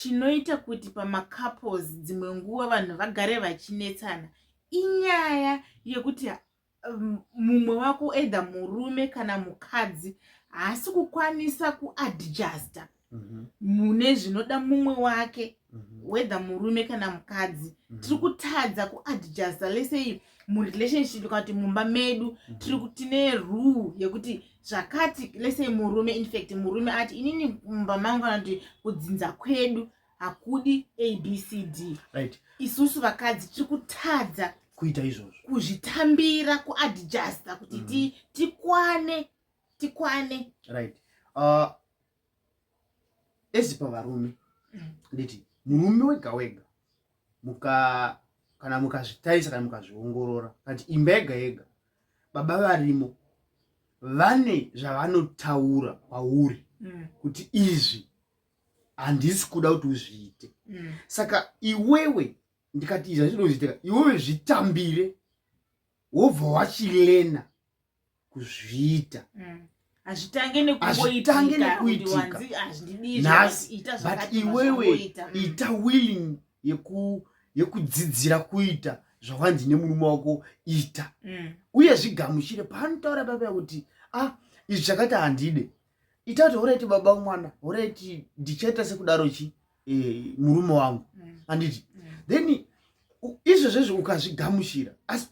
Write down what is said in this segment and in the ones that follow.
chinoita kuti pamacouples dzimwe nguva vanhu vagare vachinetsana inyaya yekuti um, mumwe wako either murume kana mukadzi haasi kukwanisa kuadjusta mhm. mune mm -hmm. zvinoda mumwe wake mm -hmm. whether murume kana mukadzi mm -hmm. tiri kutadza kuadjusta lesei murelationship kana kuti mumba medu mhm. tiri tine rule yekuti zvakati lese murume infact murume ati inini mumba mangu kana kuti kudzinza kwedu hakudi abcd right. isusu vakadzi tiri kutadza kuita izvozvo kuzvitambira kuadjusta kuti mm. tikwane tikwane right uh, ezi pavarume nditi murume wega wega muka kana mukazvitarisa kana mukazviongorora kati imba yega yega baba varimo vane zvavanotaura kwauri mm. kuti izvi handisi kuda kuti uzviite mm. saka iwewe ndikati izvi hazvinoziitika iwewe zvitambire wobva wachilena kuzviita mm. hazvitange nekuitikabut iwewe ita willing yekudzidzira kuita zvawanzi nemurume wako ita mm. uye zvigamuchire paanotaura baba kuti ah izvi zvakati handide ita kuti horeti baba mwana horeti ndichaita sekudaro chi eh, murume wangu mm. anditi mm. then izvo zvezvo ukazvigamuchira asi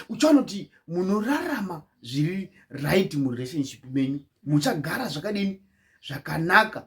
uchaona kuti munorarama zviri right murelationship menyu muchagara zvakadini zvakanaka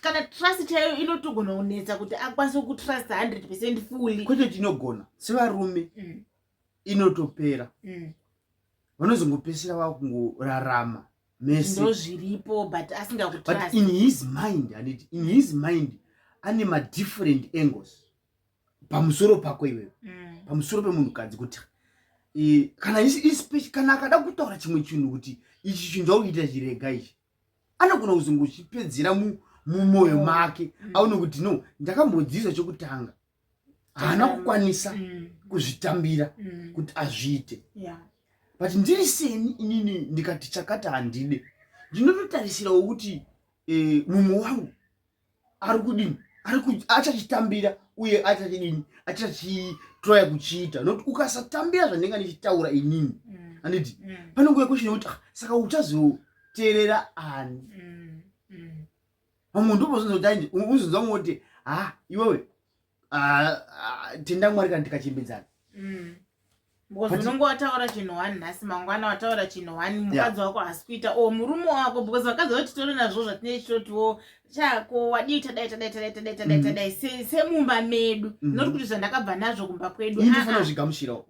kana trust chaiyo inotogona kunetsa kuti akwanise kutrust 100 percent fully kwete kuti inogona sevarume mm. inotopera mm. vanozongopesera vava kungorarama mese ndozviripo but asingakutrust in his mind handiti in his mind ane madifferent angles pamusoro pako iwewe mm. pamusoro pemunhukadzi kuti e, kana kana akada kutaura chimwe chinhu kuti ichi chinhu chakuita chirega ichi anogona kuzongochipedzera mumwoyo make mm. aone kuti no ndakambodzidzwa chekutanga haana mm. kukwanisa mm. kuzvitambira kuti azviite but ndiri seni inini ndikati chakata handide ndinototarisirawo kuti eh, mumwe wangu ari kudini achachitambira uye achachidini achachitroya kuchiita not ukasatambira zvandinga ndichitaura inini mm. anditi mm. pane nguva kweshina kuti ah, saka uchazoteerera ani mm. vamwe ndobozonzoti aindi uzonzwa moti ha ah, iwewe Ah, ah, tenda mwari kana tikachimbidzana mm. because unonge wataura chinhu one nhasi mangwana wataura chinhu one mukadzi wako haasi kuita o oh, murume wako because vakadzi vati tore nazvo zvatinei chitotiwo oh, chako wadii tadai tadai tadai tadai tadai mm-hmm. tadai semumba medu mm-hmm. not kuti zvandakabva nazvo kumba kwedu ndofana ah, zvigamushirawo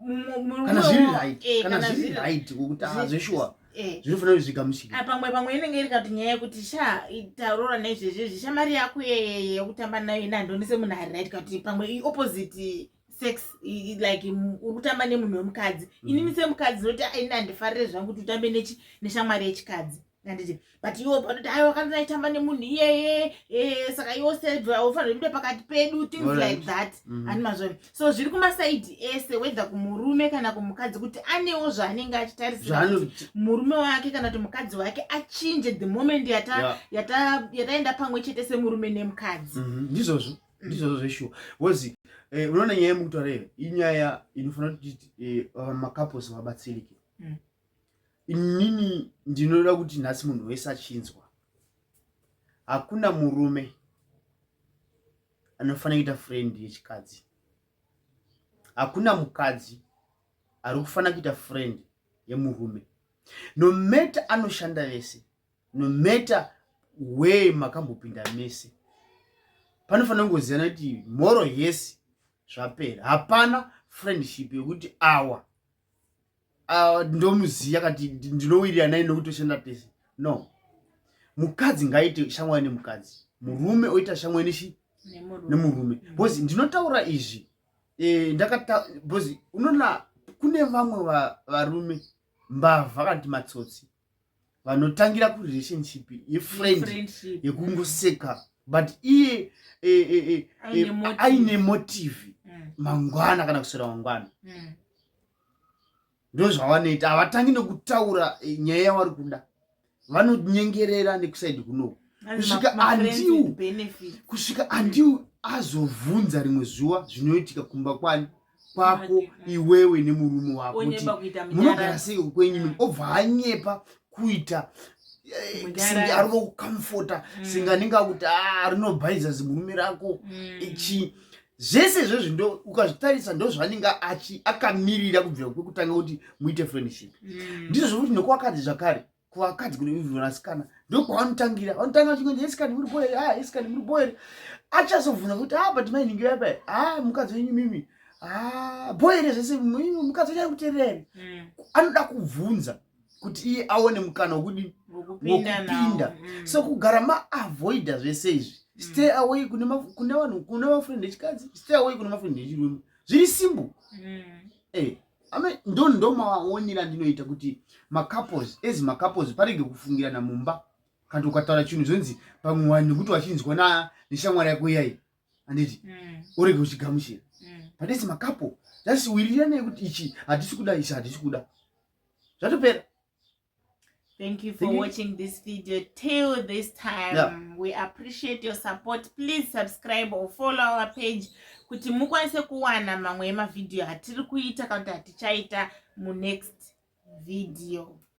kana zviri right eh, kana zviri right kukutazveshuwa Eh. zvinofanira kuti zvigamuchike ah, pamwe pamwe inenge iri kati nyaya yekuti sha taurora nezvezvezvi shamari yako yeyeye yekutamba nayo ina handionese munhu ari right kati pamwe iopposite sex like uri kutamba nemunhu wemukadzi mm. inini semukadzi noti ah, ini handifarire zvangu kuti utambe nechi neshamwari yechikadzi anditi but iwo panoti ayi wakanzi aitamba nemunhu iyeye eh, saka iwo sebva ufanira kuda pakati pedu things right. like that mm. ani mazvori so zviri kumasaidi ese wedha kumurume kana kumukadzi kuti anewo zvaanenge achitarisira murume wake kana kuti mukadzi wake achinje the moment yataenda yata, yata, yata pamwe chete semurume nemukadzi mhm, ndizvozvo mm -hmm. ndizvozvo zveshuwa wozi eh, unoona nyaya yemukutaura iyo inyaya inofanira kuti eh, makaposi vabatsirike mm. inini ndinoda kuti nhasi munhu wese achinzwa hakuna murume anofanira kuita friend yechikadzi hakuna mukadzi ari kufanira kuita friend yemurume nometa anoshanda vese nometa wee makambopinda mese panofanira kungoziyana kuti mhoro yese zvapera hapana friendship yekuti awa ah, ndomuziya kati ndinowirira naye nokuti toshanda tese no mukadzi ngaite shamwari nemukadzi murume oita shamwari nechi nemurume bcause ndinotaura izvi e, ndakata bcause unoona kune vamwe varume mbavha kana kuti matsotsi vanotangira kurelationship yefriend yekungoseka but iye eh, eh, eh, aine motivi mm. mangwana kana kuswera mangwana mm. ndo zvavanoita havatangi nekutaura nyaya yavari kuda vanonyengerera nekusaidi kuno kusvika andiu kusvika andiu azovhunza rimwe zuva zvinoitika kumba kwani kwako iwewe nemurume wako kuti munogara sei ukwenyu mm. obva hanyepa kuita eh, singe ari kukamfota mm. singe anenge akuti ah, rinobhaiza zimurume rako mm. ichi zvese izvozvi ndo ukazvitarisa ndozvaanenge achi akamirira kubvira kwekutanga kuti muite friendship ndizvo zvokuti nekuakadzi zvakare kuvakadzi kunovivi vasikana ndokwavanotangira vanotanga vachingonzi esikani muri boere a ah, esikani muri boere achazobvunza kuti a ah, but mainhingi yapa a ah, mukadzi wenyu mimi a boere zvese mukadzi wenyu arikutererani mm. anoda kubvunza kuti iye aone mukana wokudii wokupinda mm. so kugara maavoida zvese izvi mm. stay away kune vanhu kune mafriend echikadzi stay away kune mafriend echirume zviri simbo e eh. ame ndo ndo maonera andinoita kuti macouples as macouples parege kufungirana mumba kana ukataura chinhu zvonzi pamwe wani nekuti wachinzwa na neshamwari yako iyayi handiti mm. urege uchigamuchira mm. but as macouple just wiriranai kuti ichi hatisi kuda ichi hatisi kuda zvatopera Thank you for Thank watching you. this video till this time. Yeah. We appreciate your support. Please subscribe or follow our page kuti mukwanise kuwana mamwe emavideo atiri kuita kana kuti atichaita munext video.